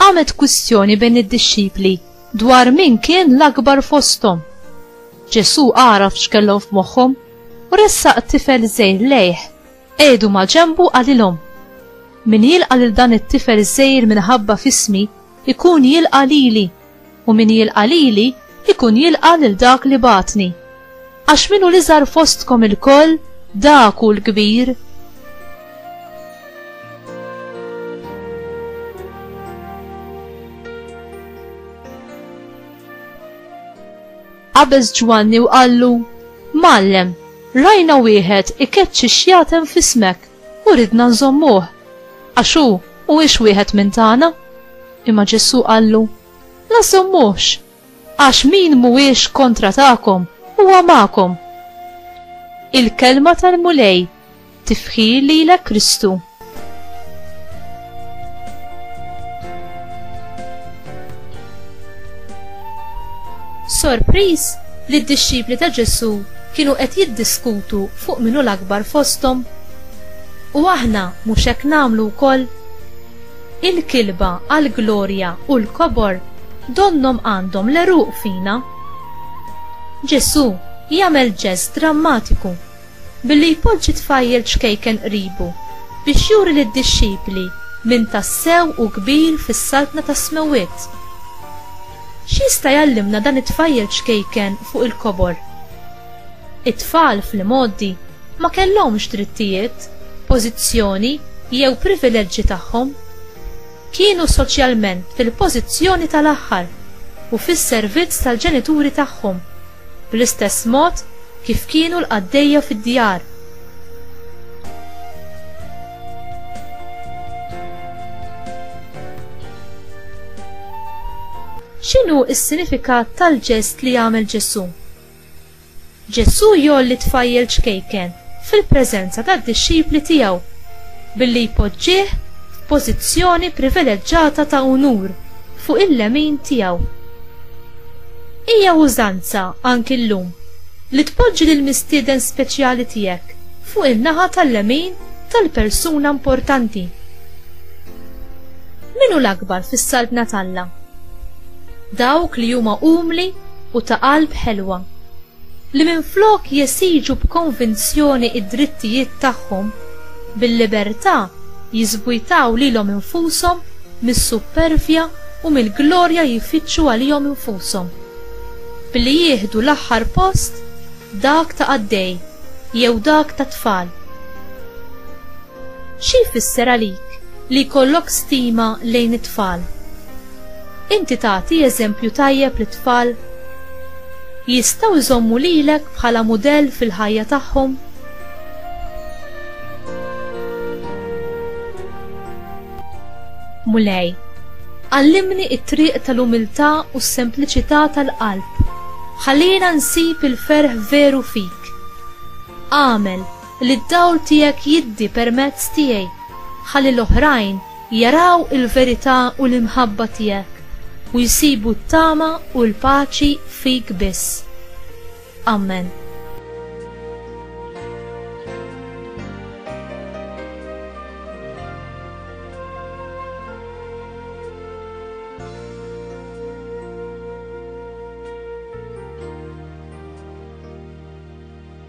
Qamet kwistjoni bejn id-dixxipli dwar min kien l-akbar fosthom. Ġesù għaraf x'kellhom f'moħħhom u ressaq tifel żgħir lejh, qiegħdu maġenbu qalilhom, Min jilqa' lil dan it-tifel żgħir minħabba f'ismi, ikun jilqa' lili. u min jilqa' lili jkun jilqa' lil dak li bagħatni. Għax min hu l-iżgħar fostkom ilkoll, dak hu l-kbir. Qabeż Ġwanni u qallu, Mgħallem, rajna wieħed ikeċċi xjatem f'ismek u ridna nżommuh, għax hu mhuwiex wieħed minn tagħna. Imma Ġesù qallu, La żżommux, għax min mhuwiex kontra tagħkom huwa magħkom. Il-kelma tal-Mulej, tifħir lilek Kristu. Sorpriż li d-dixxipli ta' Ġesù kienu qed jiddiskutu fuq minnu l-akbar fosthom. U aħna mhux hekk nagħmlu wkoll? Il-kilba għall-glorja u l-kobor donnhom għandhom l-għeruq fina. Ġesù jagħmel ġest drammatiku billi jpoġġi tfajjel ċkejken qribu biex juri lid-dixxipli min tassew hu kbir fis-Saltna tas-Smewwiet. X'jista' jgħallimna dan it-tfajjel ċkejken fuq il-kobor? It-tfal fl-imgħoddi ma kellhomx drittijiet, pożizzjoni jew privileġġi tagħhom. Kienu soċjalment fil-pożizzjoni tal-aħħar u fis-servizz tal-ġenituri tagħhom, bl-istess mod kif kienu l-qaddejja fid-djar. X'inhu s-sinifikat tal-ġest li għamel Ġesù? Ġesù jgħolli tfajjel ċkejken fil-preżenza tad-dixxipli tiegħu billi jpoġġih f'pożizzjoni privileġġata ta' unur fuq il-lemin tiegħu. Hija użanza anki llum li tpoġġi lill-mistieden speċjali tiegħek fuq in-naħa tal-lemin tal-persuna importanti. Min hu l-akbar fis-Saltna t'Alla? Dawk li huma umli u ta' qalb ħelwa, li minflok jesiġu b'konvinzjoni d-drittijiet tagħhom, bil-libertà jiżbujtaw lilhom infushom mis-suppervja u mill-glorja jfittxu għalihom infushom, billi jieħdu l-aħħar post, dak ta' qaddej jew dak ta' tfal. Xi jfisser għalik li jkollok stima lejn it-tfal? Inti tagħti eżempju tajjeb lit-tfal? Jistgħu jżommu lilek bħala mudell fil-ħajja tagħhom? Mulej, għallimni t-triq tal-umiltà u s-sempliċità tal-qalb. Ħallina nsib il-ferħ veru fik. Agħmel li d-dawl tiegħek jiddi permezz tiegħi, ħalli l-oħrajn jaraw il-verità u l-imħabba tiegħek u jsibu t-tama u l-paċi fik biss. Ammen.